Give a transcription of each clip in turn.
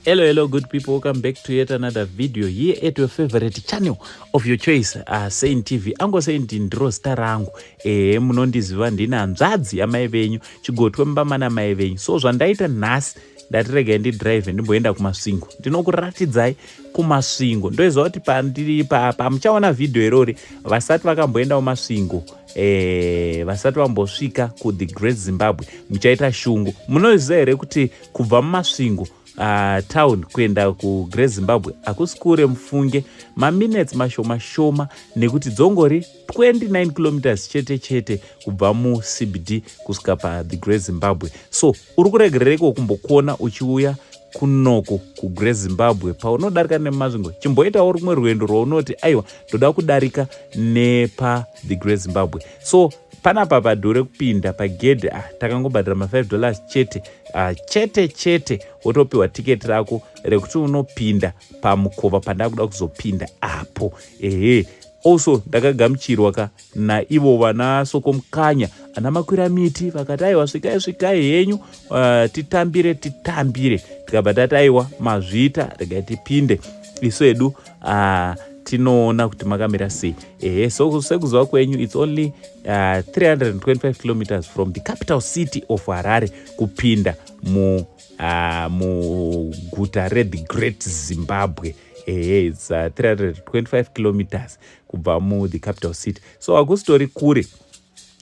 hello hello good people welcome back to yet another video here at your favorite channel of your choice uh, sain tv ango saint ndiro zita rangu ehe munondiziva ndine hanzvadzi yamai venyu chigotwe mumba mana mai venyu so zvandaita nhasi ndatiregai ndidrive ndimboenda kumasvingo ndinokuratidzai kumasvingo ndoiziva kuti pandiri pamuchaona vhidhiyo irori vasati vakamboendawo masvingo eh, vasati vambosvika kuthe great zimbabwe muchaita shungu munoziva here kuti kubva mumasvingo uh, town kuenda kugreat zimbabwe hakusi kure mufunge maminutes mashoma shoma nekuti dzongori 29 kilometers chete chete kubva mucbd kusvika pathe great zimbabwe so uri kuregerereiko kumbokuona uchiuya kunoko kugre zimbabwe paunodarika nemasvingo chimboitawo rumwe rwendo rwaunoti aiwa ndoda kudarika nepa the gre zimbabwe so panapa padhure kupinda pagedhi ah, takangobhadhira ma5 dollars chete ah, chete chete wotopiwa tiketi rako rekuti unopinda pamukova pandakuda kuzopinda apo ehe Also ndakagamuchirwa ka naivo vana Sokomukanya ana makwira miti vakati aiwa svikai svikai henyu uh, titambire titambire tikabva tati aiwa mazvita regai tipinde isu edu uh, tinoona kuti makamira sei ehe so sekuziva kwenyu its only uh, 325 kilometers from the capital city of harare kupinda mu uh, muguta rethe great zimbabwe ehe its uh, 325 kilometers kubva mu the capital city so hakusitori kure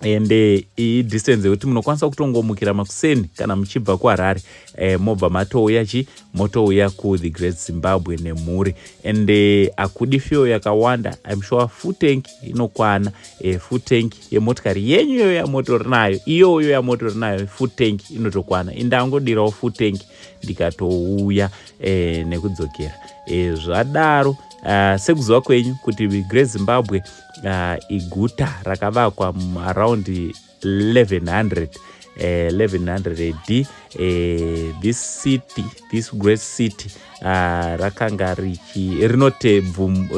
and eh, iyi distance yekuti munokwanisa kutongomukira makuseni kana muchibva kuharare eh, mobva matouya chi motouya kuthe great zimbabwe nemhuri and eh, akudi eh, fio yakawanda im sure full tank inokwana eh, full tank yemotikari yenyu iyoyo yamotori nayo iyoyo yamotori nayo full tank inotokwana indangodirawo full tank ndikatouya eh, nekudzokera eh, zvadaro uh, sekuziva kwenyu kuti great zimbabwe uh, iguta rakavakwa around 1100 uh, 1100 ad uh, this city this great city uh, rakanga richi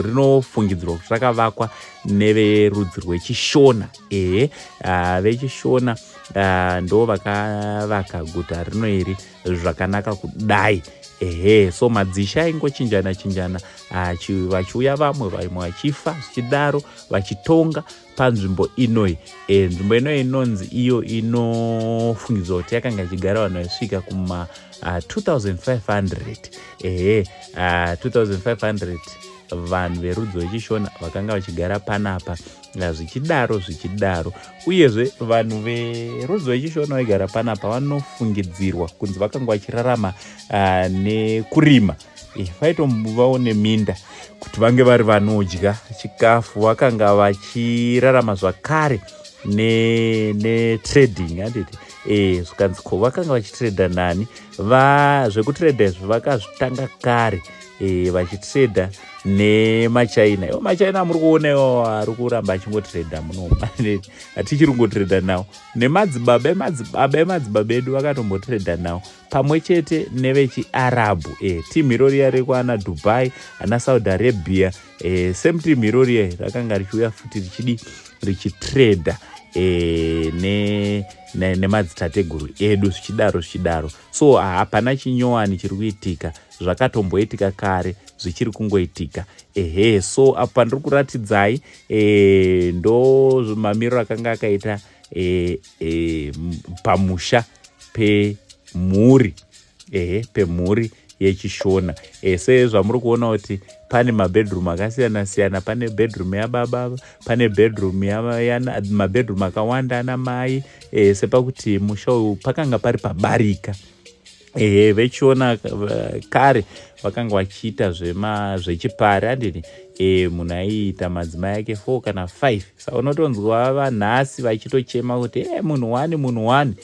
rinofungidzirwa kuti rakavakwa neverudzi rwechishona ehe uh, vechishona uh, ndo vakavaka guta rino iri zvakanaka kudai ehe so madzisha aingochinjana chinjana ah, vachiuya vamwe vamwe vachifa zvichidaro vachitonga panzvimbo inoi e, nzvimbo inoi inonzi iyo inofungidzwa kuti yakanga ichigara vanhu vaisvika kuma uh, 2500 ehe uh, 2500 vanhu verudzi wechishona vakanga vachigara panapa na zvichidaro zvichidaro uyezve vanhu verudzi rwechishona vaigara panapa vanofungidzirwa kunzi vakanga vachirarama uh, nekurima eh, vaitombovawo neminda kuti vange vari vanodya chikafu vakanga vachirarama zvakare netrading ne handiti e, zvikanzi ko vakanga vachitrada nani zvekutrada izvi vakazvitanga kare eh, vachitrader nemachina iwo machina amuri kuona iwo ari kuramba achingotrader munoma hatichiri kungotrader nawo nemadzibaba emadzibaba emadzibaba edu vakatombotrader nawo pamwe chete nevechiarabhu e eh, team iro riya rekwana dubai ana saudi arabia e, same team iro riya rakanga richiuya futi richidi richitrader e, ne nemadzitateguru edu zvichidaro zvichidaro so hapana chinyowani chiri kuitika zvakatomboitika kare zvichiri kungoitika ehe so apo pandiri kuratidzai e, ndo mamiriro akanga akaita e, e, pamusha pemhuri ehe pemhuri yechishona e, sezvamuri kuona kuti pane mabedroom akasiyana siyana pane bedroom yababa pane bedroom mabedroom akawanda ana mai e, sepakuti musha uyu pakanga pari pabarika ehe vechiona eh, kare vakanga vachiita zvema zvechipari andini e, munhu aiita madzimai ake four kana five sa unotonzwa vanhasi vachitochema kuti e, munhu wani munhu wani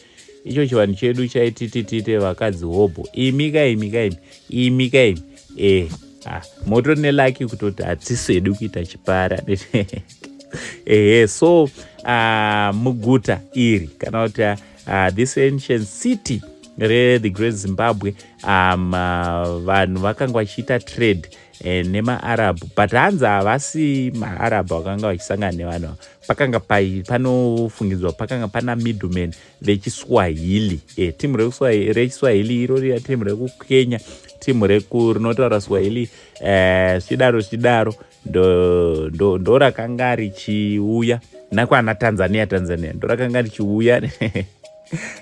icho chivanhu chedu chaitititite vakadzi hobho imi kaimi kaimi imi kaimi e, ah, moto nelaki kutoti hatsisi hedu kuita chipari andini ehe so uh, muguta iri kana kuti uh, uh, this ancient city rethe great zimbabwe um, uh, vanhu vakanga vachiita trade eh, nemaarabhu but hanzi havasi maarabhu vakanga vachisangana nevanhu pakanga panofungidzwa pakanga pana middleman vechiswahili eh, timu rechiswahili iro riya timu rekukenya timu rinotaura swahili eh, zvichidaro zvichidaro ndorakanga ndo richiuya nakwana tanzania tanzania ndorakanga richiuya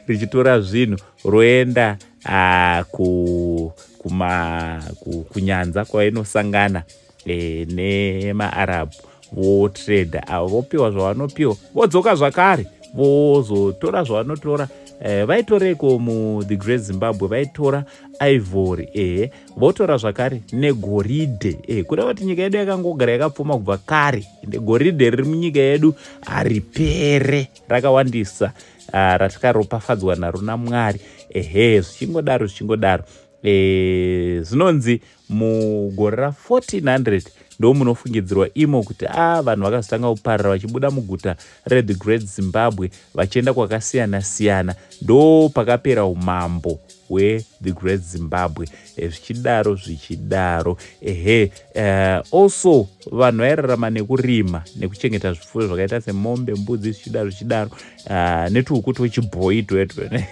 richitora zvinhu roenda uh, ku, kuma, ku, kunyanza kwainosangana e, nemaarab votrade avo vopiwa zvavanopiwa vodzoka zvakare vozotora zvavanotora eh, vaitoreiko mu the great zimbabwe vaitora ivory ehe votora zvakare negoridhe e, kureva kuti nyika yedu yakangogara yakapfuma kubva kare ende goridhe riri munyika yedu haripere rakawandisa ah, ratikaropafadzwa naro namwari ehe zvichingodaro zvichingodaro e, zvinonzi mugore ra 1400 ndo munofungidzirwa imo kuti a ah, vanhu vakazotanga kuparira vachibuda muguta reThe Great Zimbabwe vachienda kwakasiyana siyana ndo pakapera umambo hweThe Great Zimbabwe eh, zvichidaro zvichidaro ehe uh, also vanhu vairarama nekurima nekuchengeta zvifuyo zvakaita semombe mbudzi zvichidaro zvichidaro uh, netuhuku twechibhoyi twetwe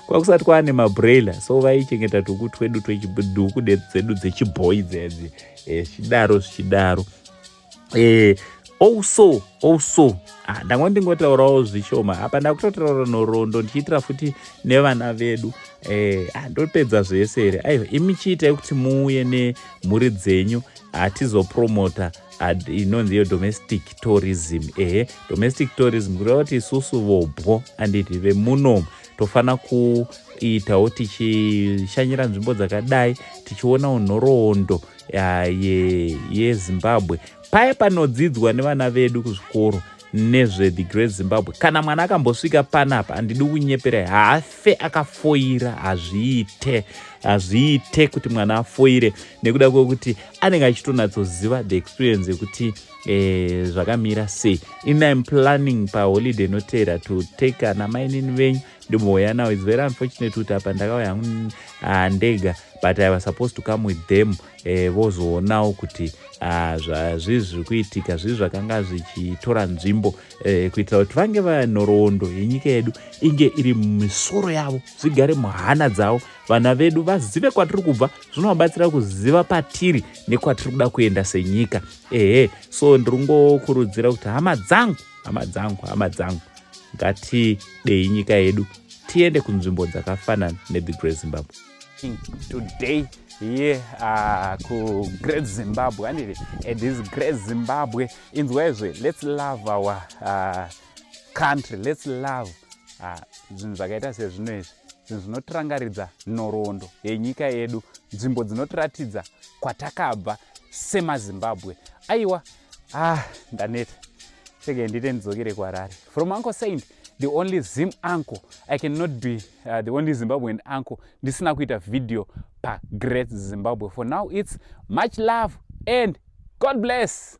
kwakusati kwaane mabraila so vaichengeta tuku twedu tweduku dzedu dzechibhoyi dzedzi eh, zvichidaro zvichidaro eh, also also ah, ndanga ndingotaurawo zvishoma apa ndakutotaura nhoroondo ndichiitira futi nevana vedu eh, ah, ndopedza zvese here aiva imi chiitai kuti muuye nemhuri dzenyu hatizopromota ah, inonzi iyo domestic tourism ehe domestic tourism kureva kuti isusu vobwo anditi vemunomu tofanira kuitawo tichishanyira nzvimbo dzakadai tichionawo nhoroondo yezimbabwe ye, ye paye panodzidzwa nevana vedu kuzvikoro nezve the great zimbabwe kana mwana akambosvika panapa handidi kunyepera haafe akafoira hazviite hazviite kuti mwana afoire nekuda kwekuti anenge achitonatsoziva the experience yekuti eh, zvakamira sei iniam planning paholiday inoteera to take ana mainini venyu ndimouya now its very unfortunate kuti apa ndakauya hangu mm, ah, ndega but i was supposed to come with them eh, vozoonawo eh, kuti ah, zvazvii zviri kuitika zvii zvakanga zvichitora nzvimbo eh, kuitira kuti vange vanhoroondo yenyika yedu inge iri mumisoro yavo zvigare muhana dzavo vana vedu vazive kwatiri kubva zvinovabatsira kuziva patiri nekwatiri kuda kuenda senyika ehe so ndiri ngokurudzira kuti hama dzangu hama dzangu hama dzangu ngatidei nyika yedu tiende kunzvimbo dzakafanana nethe great zimbabwe today here uh, kugreat zimbabwe anditi at this great zimbabwe inzwaizve let's love our uh, country let's love uh, zvinhu uh, zvakaita sezvino izvi zvinhu zvinotirangaridza nhoroondo yenyika yedu nzvimbo dzinotiratidza kwatakabva semazimbabwe aiwa ah ndaneta seke ndite ndidzokere kuharare from uncle saint the only zim uncle i cannot be uh, the only zimbabwean uncle ndisina kuita video pagreat zimbabwe for now its much love and god bless